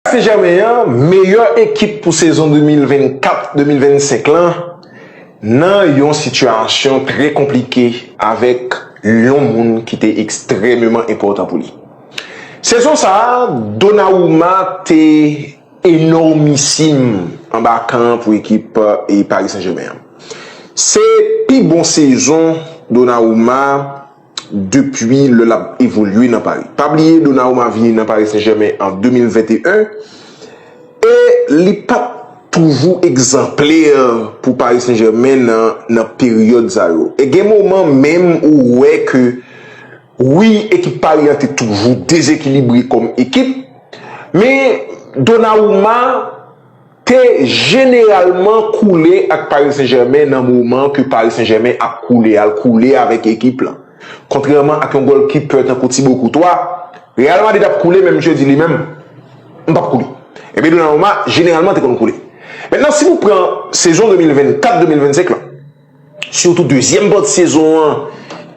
Paris Saint-Germain an meyè ekip pou sezon 2024, 2025 lan nan yon sitiyasyon trè konplike avèk yon moun ki te ekstrèmeman enpòtan pou li. Sezon sa a, Donnarumma te enòmisim anba kan an pou ekip Paris Saint-Germain an. Se pi bon sezon Donnarumma. depi lè l ap evolye nan Paris. Pa bliye Donnarumma vini nan Paris Saint-Germain an 2021 e li pa t toujou egzanplè pou Paris Saint-Germain nan peryòd sa yo. E gen moman menm ou wè ke wi ekip Paris an te toujou dezekilibre kòm ekip men Donnarumma te jeneralman koule ak Paris Saint-Germain nan moman ke Paris Saint-Germain ap koule al koule avèk ekip lan. Kontrèman ak yon gòlkipè tankou Thibaut Courtois, Real Madrid ap koule men misye di li menm, M pap koule. Epi Donnarumma jeneralman te konn koule. Mentnan si nou pran sezon 2024-2025 lan, Sitou dezyèm pati sezon an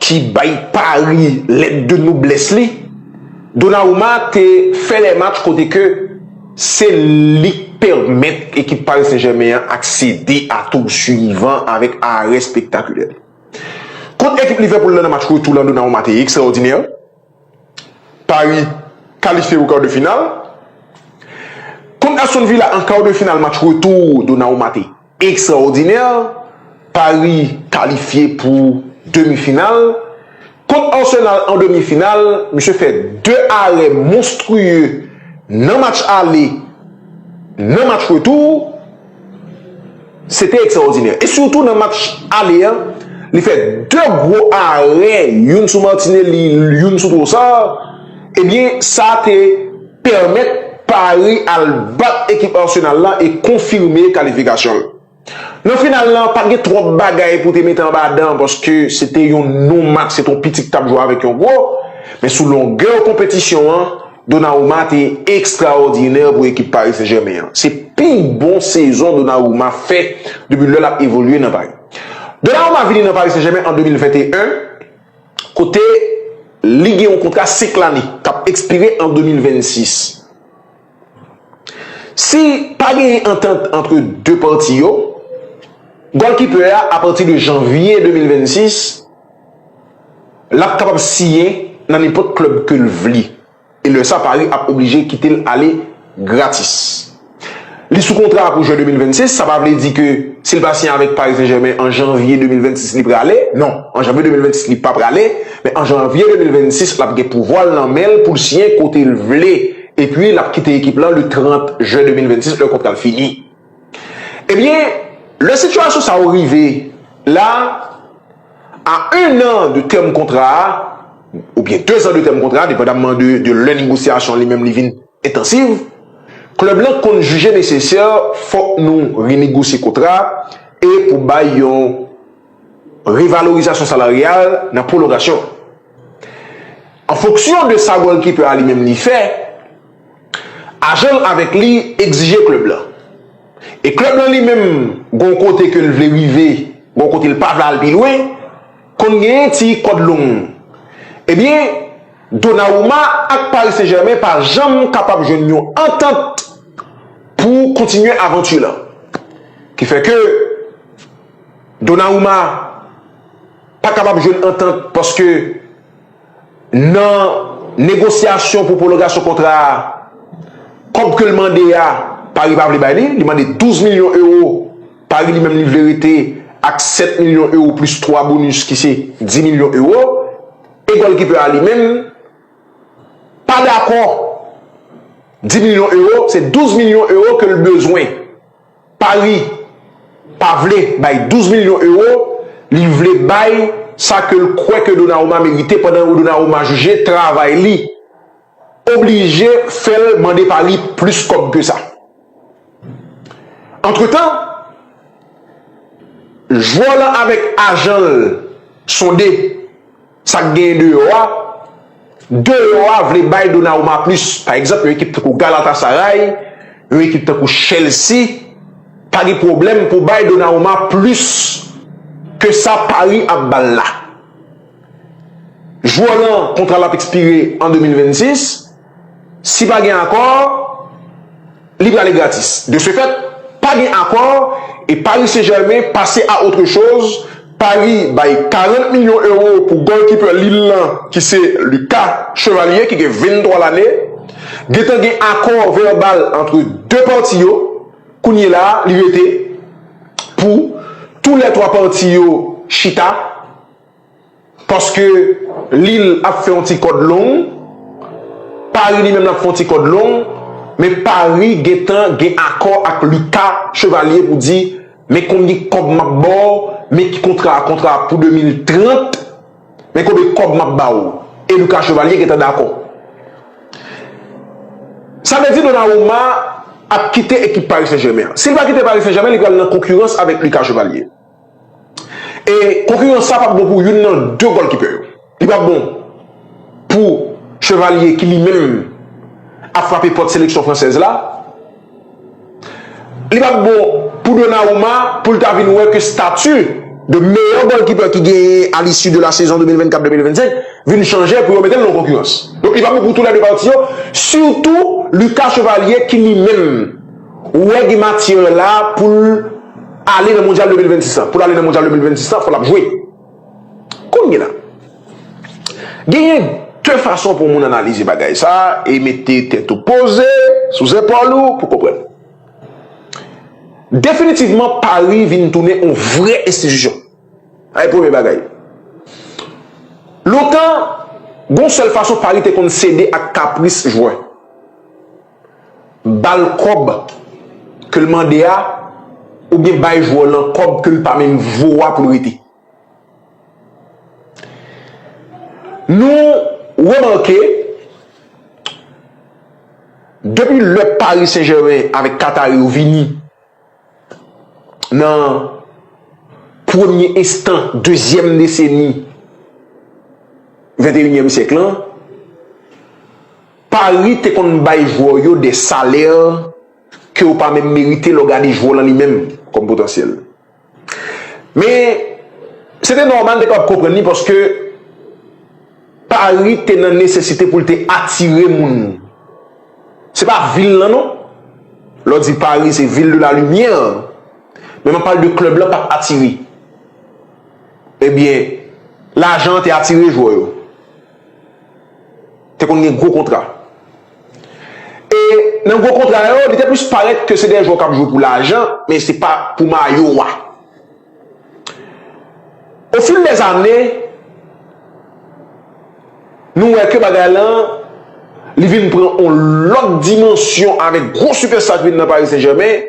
ki bay Paris lèt de noblès li. Donnarumma te fè lè match kote ke se li k pèmèt ekip Paris Saint-Germain an aksede a tour suivan avèk arè spektakulè li. Kont ekip Liverpool la nan match retou la Donnarumma te ekstraòdinè. Paris kalifye pou kar de final. Kont Aston Villa an kar de final match retou Donnarumma te ekstraòdinè. Paris kalifye pou demi final. Kont Arsenal an demi final misye fè 2 arè monstriye nan match ale nan match retou. Se te ekstraòdinè. E sitou nan match ale a, li fè 2 gwo arè, youn sou Martinelli, youn sou Trossard, ebyen sa te pèmèt Paris al bat ekip Arsenal la e konfime kalifikasyon l. Nan final la, pa t gen twòp bagay pou te mete anba dan paske se te yon non match, se te yon piti k t ap jwe avèk yon gwo, men sou longè konpetisyon an, Donnarumma te ekstraòdinè pou ekip Paris Saint-Germain an. Se pi bon sezon Donnarumma fè depi lè l ap evolye nan Paris. Donnarumma vini nan Paris Saint-Germain an 2021 kote li gen yon kontra 5 lane k ap ekspire an 2026. Si pa genyen antant antre 2 pati yo, gòlkipè a apati de janvye 2026, Lap kapab siyen nan nenpòt klèb ke l vle e lè sa Paris ap oblije kite l ale gratis. Li sou kontra pou jen 2026, sa pa vle di ke si l pa siyen avèk Paris Saint-Germain an janvye 2026 li prale, non, an janvye 2026 li pa prale, men an janvye 2026 lap gen pouvwa l nan men l pou l siyen kote l vle epi lap kite ekip lan le 30 jen 2026 lè kontra l fini. Ebyen, lè sitiyasyon sa yo rive la, A 1 an de tèm kontra a, oubyen 2 zan de tèm kontra a, depandamman de lè negosyasyon li menm li vin entansiv, klèb lan konn jije nesesè fòk nou renegosye kontra a e pou bay yon revalorizasyon salaryal nan pwolongasyon an. An fonksyon de sa gòlkipè a li menm li fè, ajan l avèk li egzije klèb lan. E klèb lan li menm gon kote ke l vle rive, gon kote l pa vle al pi lwen, konn gen yon ti kòd long. Ebyen, Donnarumma ak Paris Saint-Germain pa janm kapab jwenn yon antant pou kontinye avanti lan. Ki fè ke Donnarumma pa kapab jwenn antant paske. Nan negosyasyon pou pwolongasyon kontra a, kòb ke l mande a, Paris pa vle bay li, li mande 12 milyon ewo, Paris li menm li vle rete ak 7 milyon ewo plis 3 bonis ki se 10 milyon ewo, e gòlkipè a li menm pa dakò 10 milyon ewo, se 12 milyon ewo ke l bezwen. Paris pa vle bay 12 milyon euro, li vle bay sa ke l kwè ke Donnarumma merite pandan yon Donnarumma jije travay li oblije fè l mande Paris plis kòb ke sa. Antretan, jwè w lan avèk ajan l sonde Sak genyen deyò a, Deyò a vle bay Donnarumma plis. Pa egzanp, yon ekip tankou Galatasaray, yon ekip tankou Chelsea pa gen pwoblèm pou bay Donnarumma plis ke sa Paris ap ba l la. Jwè lan kontra l ap ekspire an 2026. Si pa gen akò, li prale gratis. De se fèt, pa gen akò e Paris Saint-Germain pase a otre choz, Paris bay 40 milyon ewo pou golkipè Lille lan ki se Lucas Chevalier ki gen 23 lane. Gentan gen akò vèbal antre 2 pati yo, kounyela a li rete pou tou lè 3 pati yo chita. Paske Lil ap fè yon ti kòd long, Paris li menm lap fè yon ti kòd long, men Paris gentan gen akò ak Lucas Chevalier pou di men konbyen kòb map baw, men ki kontra a, kontra a pou 2030, men konbyen kòb map ba ou. E Lucas Chevalier gentan dakò. Sa vle di Donnarumma ap kite ekip Paris Saint-Germain an. Sil pa kite Paris Saint-Germain li pral nan konkirans avèk Lucas Chevalier. E konkirans sa pap bon pou youn nan 2 gòlkipè yo. Li pap bon pou Chevalier ki li menm ap frape pòt seleksyon fransèz la. Li pap bon pou Donnarumma pou l ta vin wè ke stati de meyè gòlkipè ki genyen a l'issue de la sezon 2024, 2025 vin chanje pou yo mete l nan konkirans. Donk li pap bon pou tou lè 2 pati yo, sitou Lucas Chevalier ki li menm. Ou wè gen matyè la poul ale nan mondyal 2026 la. Poul ale nan mondyal 2026 la fò lap jwe. Kounye la. Genyen 2 fason pou moun analize bagay sa e mete tèt ou poze sou zepòl ou pou konprann. Definitivman Paris vin tounen yon vrè enstitisyon. Sa e premye bagay. Lontan gon sèl fason Paris te konn sede ak kapris jwè. bal kòb kel mande a oubyen bay jwè lan kòb kel pa menm vo a poul rete. Nou remake depi lè Paris Saint Germain avèk Qatari yo vini. nan premye estan dezyèm deseni venteyinyèm syèk lan, Paris te konn bay jwè w yo dè salè ke w pa menm merite lè w gade jwè w lan li menm kòm potansyèl. Men, se te nòmal te kapab konprann li paske Pari te nan nesesite pou l te atire moun. Se pa vil lan non. Lè w di Pari se ville de la lumière, men m ap pale de klèb lan pa t atire. Ebyen, lajan an te atire jwè yo. Te konn gen gwo kontra. E nan gwo kontra yo, li te plis parèt ke se de jwè kap jwe pou lajan, men se pa pou mayo a. O fil dè ane, nou wè ke bagay lan, li vin pran on lòt dimansyon avèk gwo sipèsta ki vin nan Paris Saint Germain,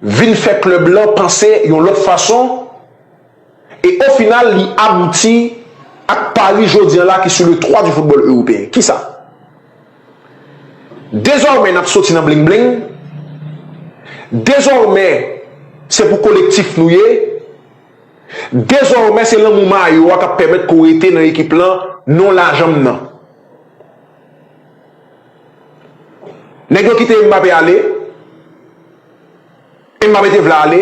vin fè klèb lan panse yon lòt fason e o final li abouti ak Paris jodi an la ki sou le trwa di foutbòl ewopeyen. Kisa? Dezòmè n ap soti nan bling bling, dezòmè se pou kolektif nou ye, dezòmè se lanmou mayo a k ap pèmèt ke w rete nan ekip lan non lajan m nan. Nèg yo kite Mbappé ale, Mbappé te vle ale,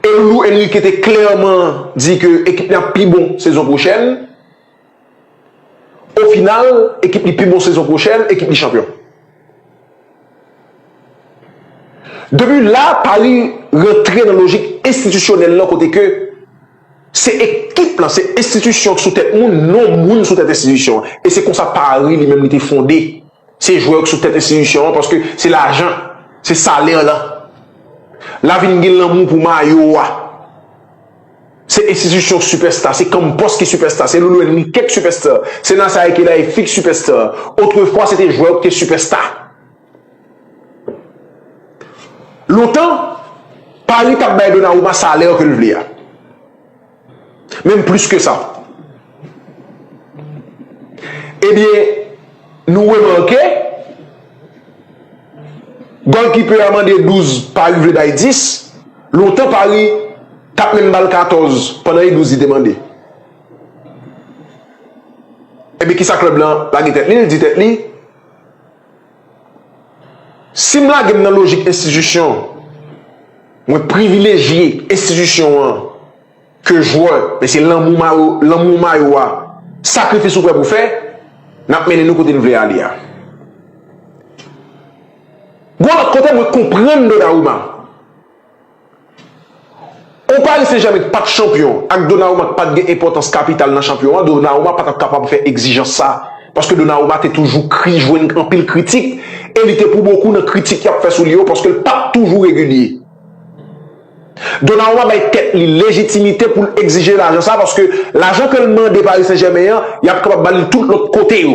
e Loulou Henrique te klèman di ke ekip li ap pi bon sezon pwochèn, o final ekip li pi bon sezon pwochèn, ekip li chanpyon. Depi la Paris rantre nan lojik enstitisyonèl lan kote ke. Se ekip lan, se enstitisyon k sou tèt moun, non moun sou tèt enstitisyon an. E se konsa Paris li menm li te fonde. Se jwè yo k sou tèt enstitisyon an paske se lajan, se salè lan. La vin gen lanmou pou mayo a. Se enstitisyon sipèsta, se Campos ki sipèsta, se Lolo Henrique k sipèsta, se Nasaire Kelaï Fix sipèsta. Otrefwa se te jwè yo k te sipèsta. Lontan, Paris tap bay Donnarumma salè ke l vle a. Menm plis ke sa. Ebyen, nou remake, Goalkeeper a mande 12, Paris vle bay 10. Lontan Paris tap menm bal 14 pandan e 12 li te mande. Ebyen kisa club lan lage tèt li, li di tèt li, Si m lage m nan lojik enstitisyon, mwen privilejye enstitisyon an ke jwè, men se lanmou mayo a, sakrifis ou prè pou fè, n ap mennen nou kote n vle ale a. Gon lòt kote mwen konprann Donarouma. Ou Paris Saint-Germain pat chanpyon ak Donnarumma k pat gen enpòtans kapital nan chanpyon an, Donnarumma pa tap kapab fè egzijans sa. Paske Donnarumma te toujou kri jwenn anpil kritik e li te pou bokou nan kritik y ap fè sou li yo paske l pat toujou regilye. Donnarumma bay tèt li lejitimite pou l egzije lajan sa paske lajan ke l mande Paris Saint-Germain an y ap kapab ba li l tout lòt kote yo.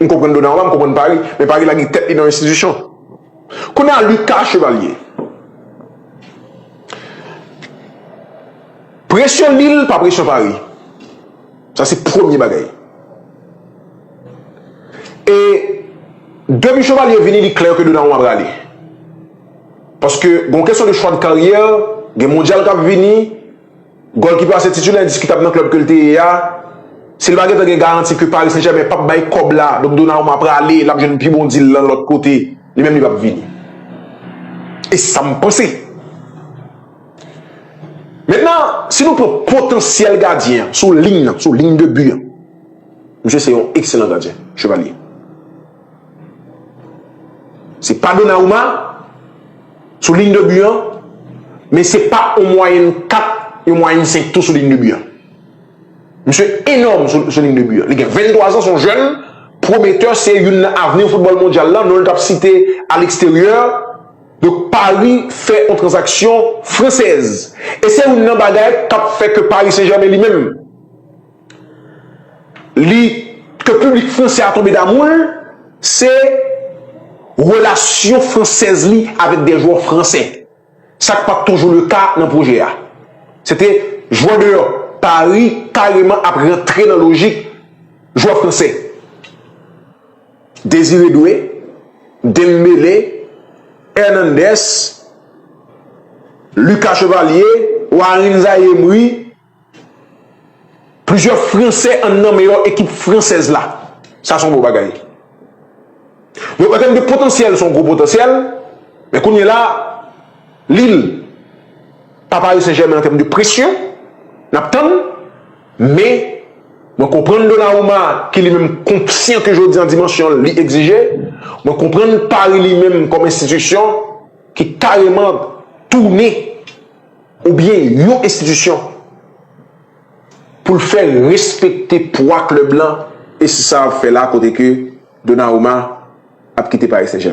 M konprann Dona anba, m konprann Pari, men Pari lage tèt li nan enstitisyon. Kounye a Lucas Chevalier, presyon Lille pa presyon Pari. Sa se premye bagay. E depi Chevalier vini li klè ke Dona anba prale. Paske gon kesyon de chwa de karyè, gen mondyal k ap vini. Gòl ki plase titulè endiskitab nan klèb ke l te ye a, si l pa gentan gen garanti ke Paris Saint-Germain pap bay kòb la, donk Donnarumma prale, lap jwenn pi bon deal lan lòt kote, li menm li pap vini. E se sa m panse. Mentnan, si nou pran potansyèl gadyen an, sou lign nan, sou lign de bi an, misye se yon ekselan gadyen, Chevalier. Se pa Donnarumma. Sou ligne de but an, men se pa yon mwayenn 4, yon mwayenn 5 tou sou ligne de but an. Misye enòm sou ligne de but an. Li gen 23 ans, son jèn, pwometè, se youn nan avni foutbòl mondyal la, non li t ap site a leksteryè. Donk Pari fè yon tranzaksyon fransèz. E se youn nan bagay k ap fè ke Pari Sen Jèmen li menm, li ke piblik fransè a tonbe damou l se relasyon fransèz li avèk de jwè fransè sa k pa t toujou le ka nan pwojè a se te jwè deyò Pari kareman ap rantre nan lojik jwè fransè Désiré Doué Dembélé Hernandez Lucas Chevalier Warin Zaïre Emery Plizyè franse an nan meyò ekip fransèz la. Sa son bon bagay. Donk an tèm de potansyèl son gwo potansyèl. Men kounye la Lille pa Paris Saint Germain an tèm de presyon. Nap tann. Men mwen konprann Donnarumma ki li menm konsyan ke jodi an dimansyon li egzije. Mwen konprann Paris li menm kòm enstitisyon ki kareman tounen. oubyen yon enstitisyon pou l fè respekte pwa klèb lan e se sa l ap fè la kote ke Donnarumma ap kite Paris Saint-Germain.